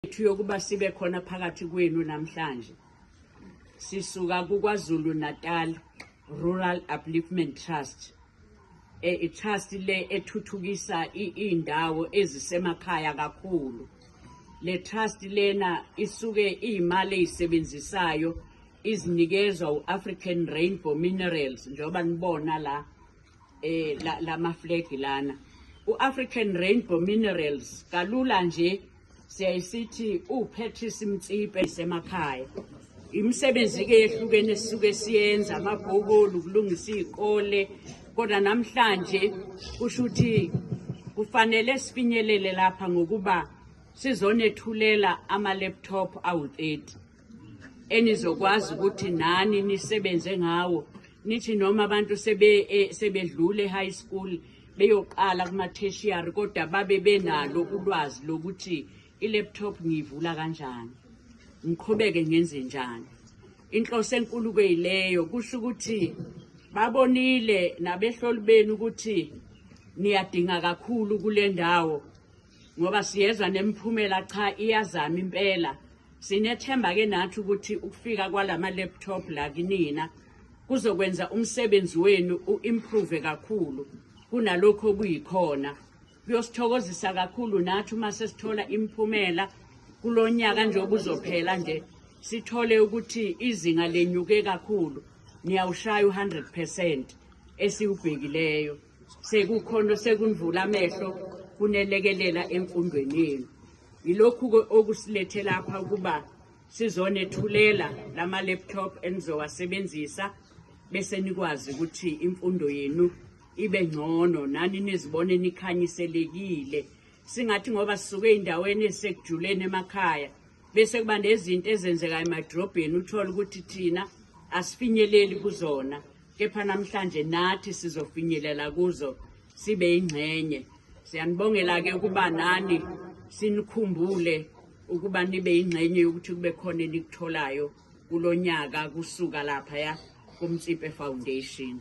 Yethu yokuba sibe khona phakathi kwenu namhlanje sisuka kuKwaZulu Natal Rural Upliftment Trust eh, i-trust le ethuthukisa iy'ndawo ezisemakhaya kakhulu le trust lena isuke iy'mali ey'sebenzisayo izinikezwa u-african rainbow minerals njengoba nibona la eh la, la maflegi lana u-african rainbow minerals kalula nje siyayisithi uPatrice Mtsipe isemakhaya imisebenzi-ke yehlukene esisuke siyenza amabhokoli ukulungisa iy'kole kodwa namhlanje kusho ukuthi kufanele sifinyelele lapha ngokuba sizonethulela ama-laptop awu-30 enizokwazi ukuthi nani nisebenze ngawo nithi noma abantu sebe eh, sebedlule high school beyoqala kuma tertiary kodwa babe benalo ulwazi lokuthi i laptop ngiyivula kanjani ngiqhubeke ngenze njani inhloso enkulu kuyileyo kusho ukuthi babonile nabehloli benu ukuthi niyadinga kakhulu kule ndawo ngoba siyezwa nemphumela cha iyazama impela sinethemba ke nathi ukuthi ukufika kwalama laptop la kinina kuzokwenza umsebenzi wenu uimprove kakhulu kunalokho kuyikhona kuyosithokozisa kakhulu nathi uma sesithola imiphumela kulonyaka nje obuzophela nje sithole ukuthi izinga lenyuke kakhulu niyawushaya u100% esiwubhekileyo Sekukhona sekunivula amehlo kunelekelela emfundweni yenu. Yilokhu-ke okusilethe lapha ukuba sizonethulela lama-laptop enizowasebenzisa bese nikwazi ukuthi imfundo yenu ibe ngcono nani nizibone nikhanyiselekile singathi ngoba sisuke ey'ndaweni ezisekujuleni emakhaya bese kuba nezinto ezenzekayo emadrobheni uthole ukuthi thina asifinyeleli kuzona kepha namhlanje nathi sizofinyelela kuzo sibe ingxenye siyanibongela ke ukuba nani sinikhumbule ukuba nibe ingxenye yokuthi kube khona enikutholayo kulonyaka kusuka lapha ya kumtsipe foundation